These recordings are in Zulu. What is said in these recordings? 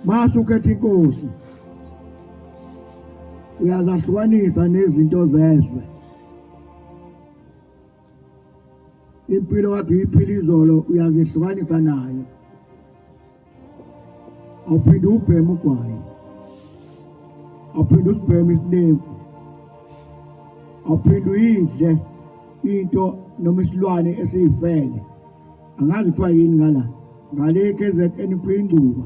Mase ukhetha inkosi uyazahlukanisa nezinto zezwe impilo kade uyiphila izolo uyazihlukanisa nayo awuphinde ubheme ugwayi awuphinde usibheme isinemfu awuphinde uyidle into noma isilwane esiyifele angazi kuthiwa yini ngala ngale KZN kuyingcuba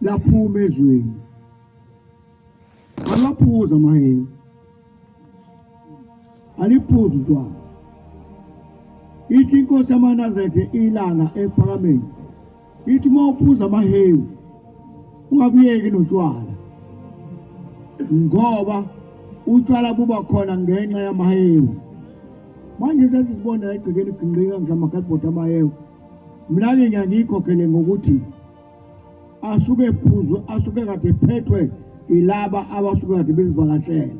laphuma ezweni alaphuza mahela aliphuza utshwala ithi inkosi yamanazaretha ilanga ephakameni ithi uma uphuza amahewu ungabuyeki notshwala ngoba utshwala buba khona ngenxa yamahewu manje sesizibona egcekeni gingqika ngihlamakhadibhodi amahewu mina-ke ngiyangiyikhokhele ngokuthi asuke ephuzwe asuke kade phethwe ilaba abasuke kade bezivakashele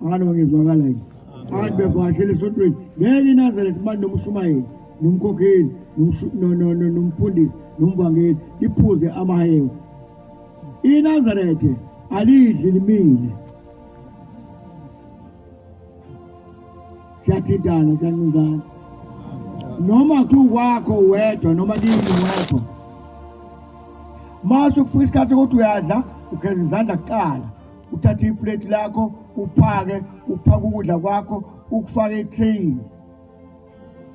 abantu bangezwakala yini abantu bevakashele esontweni ngeke inazele kubantu nomushumayeli nomkhokheli nomfundisi nomvangeli liphuze amahewu inazarethe alidli limile siyathintana siyancintana noma kuthiwa ukwakho wedwa noma kimi wedwa mase ukufika isikhathi ukuthi uyadla ugeza izandla kuqala uthathe iplate lakho uphake uphake ukudla kwakho ukufake etreyini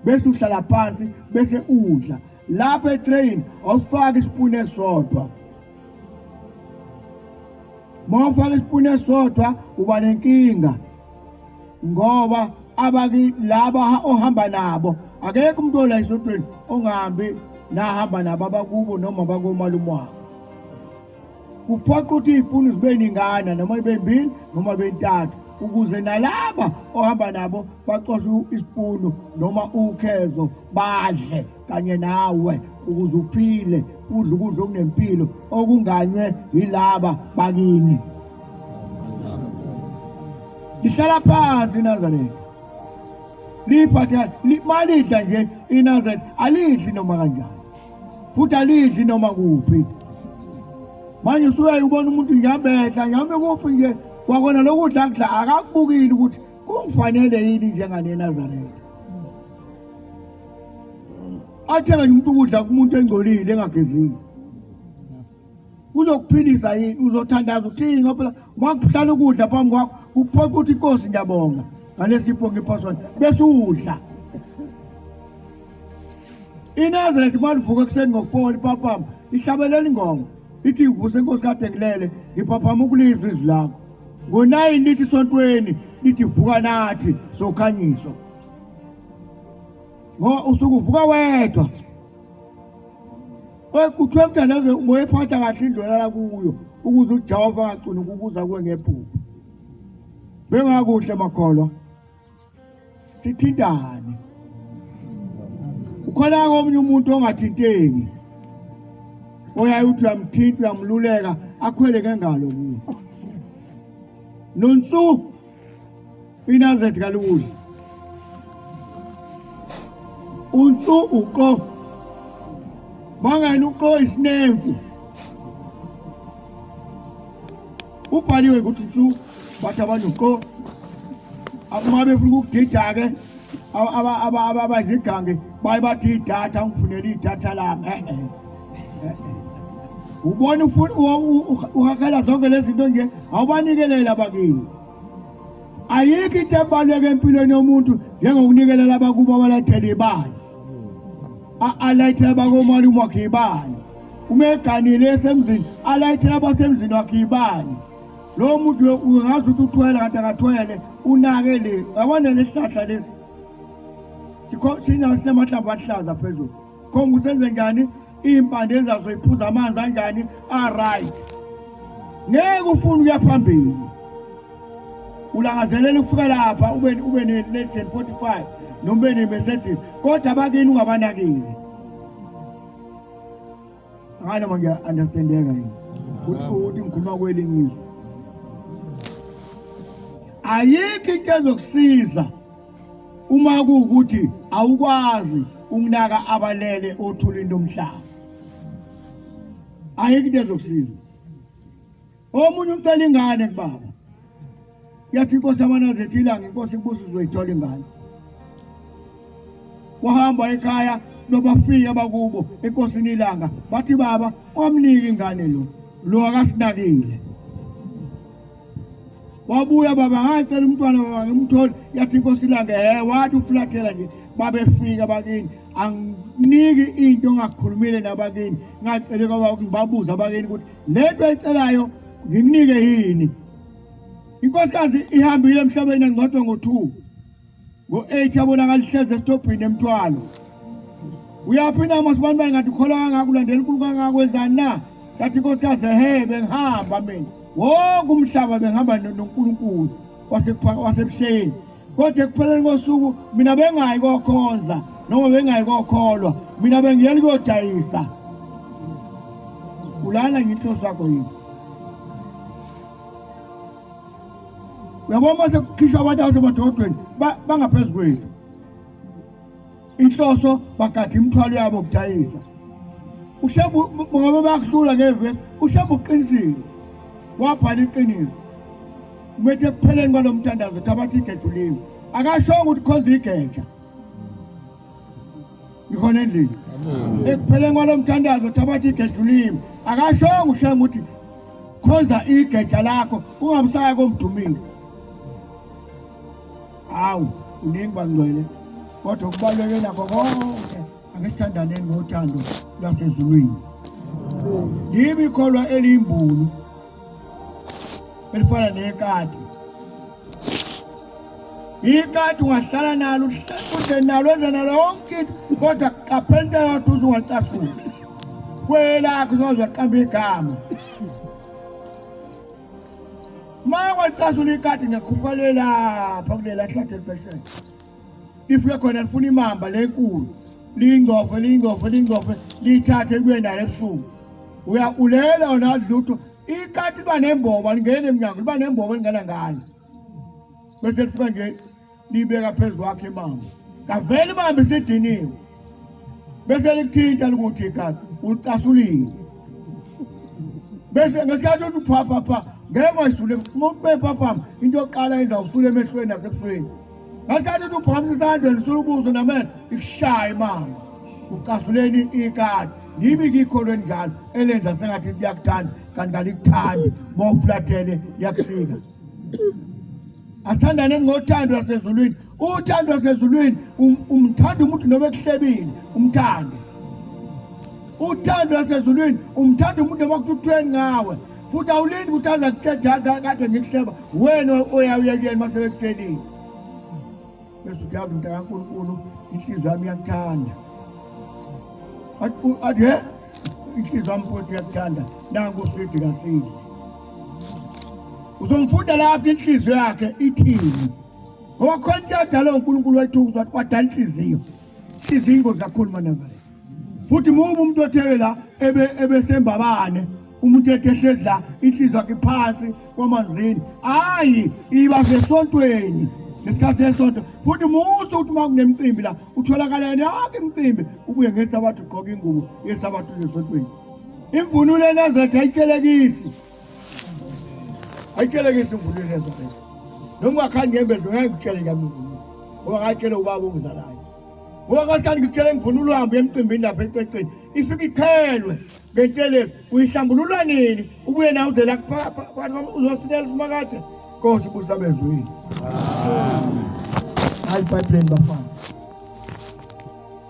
bese uhlala phansi bese udla lapha etrain awusifaki isipuni esodwa mawufaka isipuni esodwa uba nenkinga ngoba abaki laba ohamba nabo akekho umuntu ola isotweni ongahambi nahamba nabo abakubo noma bakomalume wakho kuphoqa ukuthi iy'puni zibe ningana noma ibe mbili noma ibe ntathu ukuze nalaba ohamba nabo bacoshe isipunu noma ukhezo badle kanye nawe ukuze uphile udle ukudla okunempilo okunganywe yilaba bakini lihlala phansi inazareth liphatha malidla nje inazareth alidli noma kanjani futhi alidli noma kuphi manje usuyaye ubona umuntu ngiyabehla ngiyame kuphi nje kwakona lokudla kudla akakubukile ukuthi kungifanele yini njengane eNazaretha athenge umuntu ukudla kumuntu engcolile engagezile uzokuphilisa yini uzothandaza uthini ngoba phela wakuhlala ukudla phambi kwakho kuphoqa ukuthi inkosi ngiyabonga ngalesipho ngiphosona bese udla inazareth uma livuka ekuseni ngo-four lipaphama ihlabelela ingoma ithi ngivuse inkosi kade ngilele ngiphaphama ukulizwa izwi lakho ngo-nine lithi esontweni lithi vuka nathi sokhanyiswa ngoba usuke uvuka wedwa Kuthiwa mthandazo ngoyiphatha kahle indlu olala kuyo ukuze uJehova angagcini ukukuza kuwe ngephupho. Bengakuhle makholwa. Sithintane. Ukhona omunye umuntu ongathinteki. Oyaye uthi uyamthinta uyamluleka akhwele ngengalo kuye. Nonsu Inazet kalukudla. Untu uqo. Mangani uqo isinemfu. Ubhaliwe ukuthi ntu bathi abantu uqo. Uma befuna ukugida-ke abazigange baye bathi idatha ngifunela idatha lami. Eh, eh. ubona ufuna uhakela zonke lezi zinto nje awubanikelele abakini ayikho into ebaluleke empilweni yomuntu njengokunikela labakubo abalethela ibali alayithela abakomali umwakhe ibali uma eganile esemzini alayithela abasemzini wakhe ibali lo muntu ungazi ukuthi uthwele kanti akathwele unake le yabona lesihlahla lesi sinamahlamvu ahlaza phezulu khomba ukuthi enze njani iy'mpande zazo iphuza amanzi anjani aright ngeke ufune ukuya phambili ulangazelela ukufika lapha ube ube ne-legend 45 noma ube ne-mercedes kodwa abakini ungabanakile ngani manje understandeka yini ukuthi ngikhuluma kwelinye izwe ayikho into ezokusiza Uma kuwukuthi awukwazi ukunaka abalele othulini lomhlaba, ayikho into ezokusiza. Omunye ucela ingane kubaba, yathi inkosi amanazi ethi ilanga inkosi kubusa uzoyithola ingane. Wahamba ekhaya nobafika bakubo enkosini ilanga bathi baba wamnika ingane lo lo akasinakile wabuya baba ngacela umntwana baba ngimthole yathi inkosi ilanga he wathi ufulathela nje babefika bakini anginiki into ongakhulumile nabakini ngacele kwaba ngibabuza abakini ukuthi lento ayicelayo nginike yini inkosikazi ihambile emhlabeni engcotshwa ngo-two ngo-eight abonakala ihlezi esitobhini emthwalo uyaphi na masibani bani ngathi ukholwa kangako ulandela unkulu kangako wenzani na kathi inkosikazi ehe bengihamba mina wonke umhlaba bengihamba nonkulunkulu wasebuhleni kodwa ekupheleni kosuku mina bengayi kokhonza noma bengayi kokholwa mina bengiyeli kuyodayisa ulana nginhloso yakho yini uyabona uma sekukhishwa abantu abasemadolodweni bangaphezu kwethu inhloso bagada imithwalo yabo kudayisa ushembu ngoba bayakuhlula ngevesi ushembu uqinisile wabhala iqiniso umethe ekupheleni kwalo mthandazo ukuthi abathi igejuliwe akashongo ukuthi khonza igeja ikhona endlini ekupheleni kwalo mthandazo thabatha igeja ulimi akashongo ushenge ukuthi khoza igeja lakho ungamsaya komdumisi hawu uningi bangcwele kodwa kubaluleke nakho konke ake sithandaneni ngothando lwasezulwini yimi kholwa eliyimbulu elifana nekati ikati ungahlala nalo ude nalo enze nalo yonke into kodwa qaphela into yodwa uze ungacasuli kwelakho uzozwa qamba igama uma ungacasula ikati ngekhuphale lapha kulela hlathi elibeshele lifike khona lifuna imamba lenkulu liyingcofe liyingcofe liyingcofe liyithathe libuye nayo ebusuku uya ulela wona lutho ikati liba nembobo alingeni emnyango liba nembobo elingena ngayo bese lifika nje libeka phezu kwakhe imamba kavele imamba isidiniwe bese likuthinta likuthi igazi ucasulile bese ngesikhathi uthi uphaphapha ngeke wayisule uma ube phaphama into yokuqala yenza usule emehlweni nasebusweni ngesikhathi uthi uphakamisa isandla nisula ubuso namehlo ikushaye mama ucasuleni ikati yibi kikho lwenjalo elenza sengathi liyakuthanda kanti kalikuthandi uma ufulathele liyakusika asithandane ngothando lwasezulwini uthando lwasezulwini um, umthanda umuntu noma ekuhlebile umthande uthando lwasezulwini umthanda umuntu noma kuthukthweni ngawe futhi awulindi ukuthi aza kutshedada kade ngikuhleba wena oyawuyekuyeni uma sebekutshelile Bese uyazi mntaka Nkulunkulu inhliziyo yami iyakuthanda. Athi he inhliziyo yami futhi iyakuthanda nangu usidi kasile. Uzomfunda lapha inhliziyo yakhe ithini. Ngoba khona into yadala uNkulunkulu wayithukuza wadala inhliziyo. Inhliziyo ingozi kakhulu manazala. futhi ngoba umuntu otheke la ebe ebesembabane umuntu ekehlezi la inhliziyo yakhe phansi kwamanzini hayi iba sesontweni ngesikhathi sesonto futhi muso ukuthi uma kunemicimbi la utholakala yena yonke imicimbi ubuye ngesabatha ugqoka ingubo yesabatha usesontweni imvunulo enezetha ayitshelekisi ayitshelekisi imvunulo enezetha noma ungakhandi ngembezi ungeke ngitshele ngamvunulo ngoba ngayitshele ubaba ongizalayo ngoba kwasikani ngikutshela imvunulo uhambe emcimbini lapha ececeni ifike ikhelwe ngentelezi uyihlambulula nini ubuye nawe uzela kuzosinela simakade nkosi busa bezwini hayi ibhayibhileni bafana